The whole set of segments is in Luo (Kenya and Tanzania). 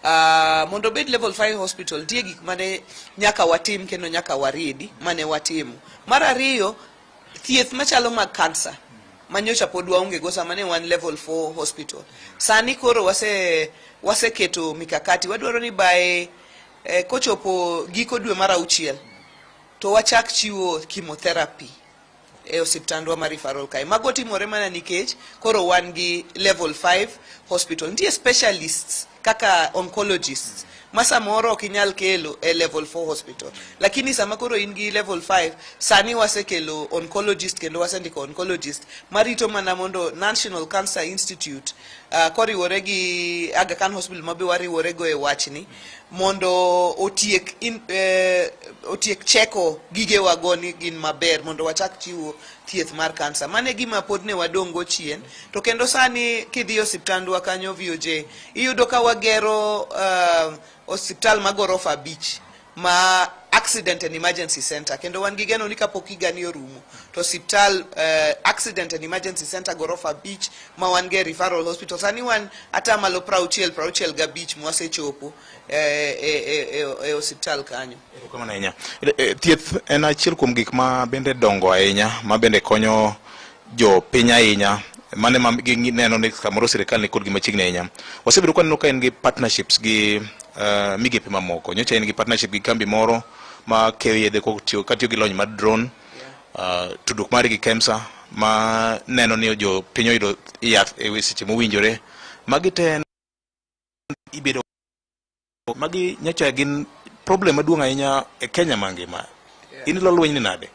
Uh, mondo obed level 5 hospital tie gik mane nyaka watim kendo nyaka wariedi mane watimo mar ariyo thieth machalo mag kansa manyocha pod waonge go sama ne wan level 4 hospital sani koro wase waseketo mikakati wadwaro ni bae eh, kochopo giko dwe mar auchiel to wachak chiwo chemotherapy e osiptandwa ma referral kae. Mago timore mana nikech koro wan gi level 5 hospital. Nitie specialists kaka oncologists ma samoro ok inyal kelo e level 4 hospital. Lakini sama koro in gi level 5, sani wasekelo oncologist kendo wasendiko oncologist marito mana mondo National Cancer Institute uh, koriwore gi Aga Khan Hospital ma be wariworego e wachni mondo otiek in, eh, otiek cheko gigewa go ni gin maber mondo wachak chiwo thieth mar kansa. Mane gima pod ne wadongo chien to kendo sani kidhi osiptandwa kanyo VOJ iyudo ka wagero uh, osiptal ma gorofa abich ma accident and emergency center kendo wan gi geno ni kapok higani orumo to osiptal uh, accident and emergency center gorofa abich ma wan ge referral hospital sani wan ata malo prauchiel prauchiel gabich mwasechopo e, e, e, e, e osiptal kanyo Erokamano ahinya. E- e, Thieth en achiel kuom gik ma bende dongo ahinya ma bende konyo jo piny ahinya mane ma gi- neno ni samoro sirikal ni kod gi machiegni ahinya. Wasebedo kwaneno ka en gi partnerships gi eh, migepe mamoko. Nyocha en gi partnership gi kambi moro ma keyo yedhe kotiyo- katiyo gi lony mar drone uh, tudruok mari gi KEMSA ma neno ni jo piny oyudo yath e we- seche mowinjore magi te en- ibedo magi nyocha gin problem maduong' ahinya e Kenya mangima in ilo lweny ni nade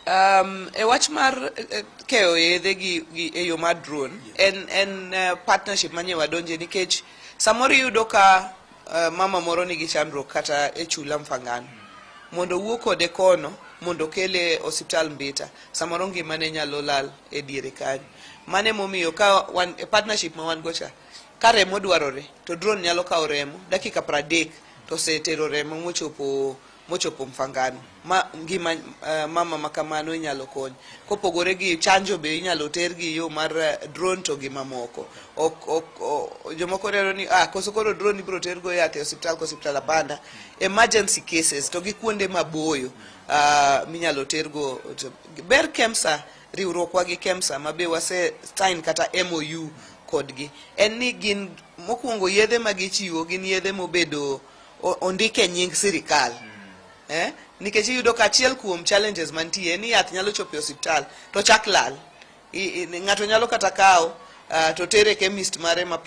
Um, e wach mar eh, eh, keyo yedhe gi, gi e yo mar drone en, en eh, partnership manye wadonje nikech samoro iyudo ka Uh, mama moro nigi chandruok kata e chula mfangano mondo wuo kode kono mondo kele osiptal mbita samoro ngimane nyalo lal e diere kanyo mane momiyo ka wan, e partnership ma wan go cha ka remo dwarore to drone nyalo kawo remo dakika pradek to osetero remo mochopo mochopo mfangano ma ngima uh, mama ma kamano inyalo kony kopogore gi chanjo be inyalo ter gi yo mar uh, drone to gi mamoko ok ok jomoko rero ni ah koso koro drone ibro ter go yath e hospital ko hospital abanda emergency cases to gi kuonde maboyo uh, minyalo ter go ber kemsa riwruokwa gi kemsa ma be wase sign kata MOU kodgi en ni gin mokwongo yedhe ma gichiwo gin yedhe mobedo o- ondik e nying sirikal eh? nikech iyudo ka achiel kuom challenges mantie ni yath nyalo chopo e osiptal to chak lal I- i- ng'ato nyalo kata kawo ah, to tere chemist mare ma